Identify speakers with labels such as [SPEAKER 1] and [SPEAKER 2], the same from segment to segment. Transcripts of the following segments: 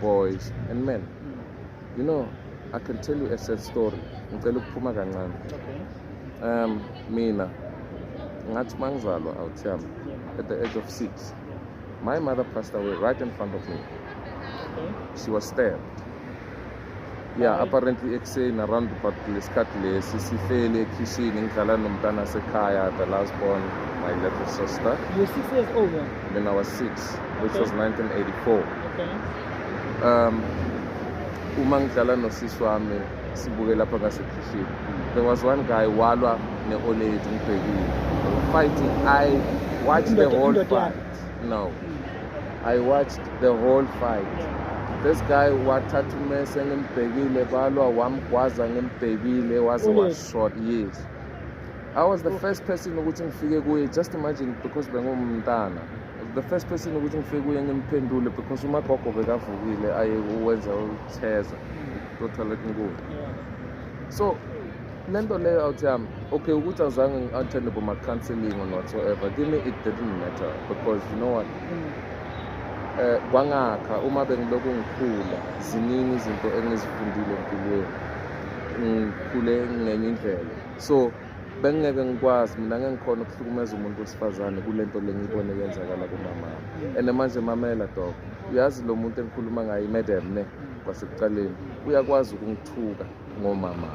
[SPEAKER 1] boys and men you know i can tell you a sad story ngicela ukuphuma kancane um
[SPEAKER 2] mina
[SPEAKER 1] ngathi uma ngizalwa awuthiyami at the age of six my mother passed away right in front of me
[SPEAKER 2] she was stabbed
[SPEAKER 1] ya apparently ekuseni around but lesikhathi lesi sihleli ekhishini ngidlala nomntana sekhaya the last born my little sister you're six years old then?
[SPEAKER 2] when i was six
[SPEAKER 1] which okay. was 1984
[SPEAKER 2] okay.
[SPEAKER 1] um uma ngidlala nosisi wami sibuke lapha ngasekhishini there was one guy walwa ne-oledi ngibhekile fighting i watched the whole fight now i watched the whole fight this guy wathatha umese ngimbhekile balwa wamgwaza ngimbhekile waze washot yes i was the first person ukuthi ngifike kuye just imagine because bengumntana the first person ukuthi ngifike kuye ngimphendule because umagogo bekavukile aye wenza utheza totally kunkulu so le nto leyo awuthi yam okay ukuthi azange ngi-attende boma-counseling on whatsoever kimi it didn't matter because you know what mm. eh kwangakha uma bengilokhu ngikhula ziningi izinto engizifundile empilweni ngikhule ngenye indlela so bengingeke ngikwazi mina ngeke ngikhona ukuhlukumeza umuntu wesifazane kule nto le ngiyibone yenzakala kumama and manje mamela dok uyazi lo muntu engikhuluma ngaye imadam ne kwasekuqaleni uyakwazi ukungithuka ngomama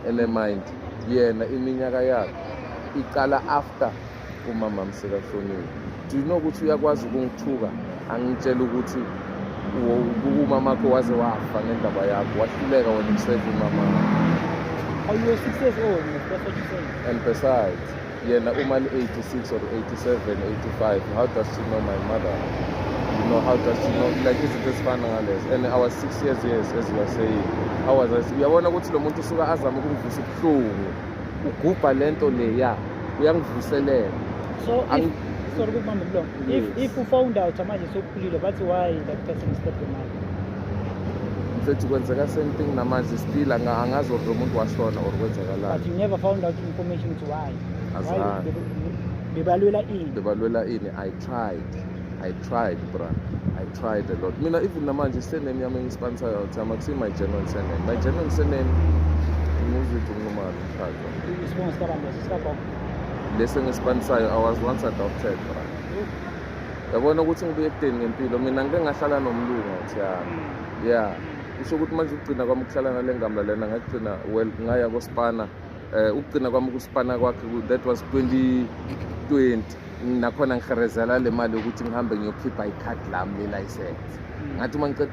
[SPEAKER 1] ene mind yena iminyaka yakhe iqala after umama msekahloniwe do you know ukuthi uyakwazi ukungithuka angitshela ukuthi umama wakho waze wafa ngendaba yakho wahluleka wena umsebenzi umama wakho Are
[SPEAKER 2] you a success or an and besides
[SPEAKER 1] yena uma ni-86 or 87 85 how does she know my mother you know how does she know like izinto ezifana ngalezo and our six years years as you are saying how was I uyabona ukuthi lo muntu usuka azame ukungivusa ubuhlungu ugubha le nto leya uyangivuselela so if, sorry
[SPEAKER 2] kubamba mlomo if, if u found out manje sokukhulile bathi why that person is not your mother
[SPEAKER 1] mfethu kwenzeka same thing namanje still angazi or lomuntu washona or kwenzakalani but you never found out
[SPEAKER 2] information to why azani
[SPEAKER 1] bebalwela
[SPEAKER 2] ini bebalwela ini i
[SPEAKER 1] tried i tried bra i tried a lot mina even namanje surname yami engispansayo ukuthi ama kusi my genuine surname my genuine surname ngizithu ngumali mshado isibongo sikabantu
[SPEAKER 2] sikagogo lesi
[SPEAKER 1] engispansayo i was once adopted bra yabona ukuthi ngibuye ekudeni ngempilo mina ngike ngahlala nomlungu thiyami mm. ya kusho ukuthi manje ukugcina kwami ukuhlala nale ngamba lena ngagcina well ngaya kospana um ukugcina kwami ukuspana kwakhe that was 2020 nakhona ngiherezela le mali yokuthi ngihambe ngiyokhipha ikhadi lami le-license mm. ngathi uma ngiceda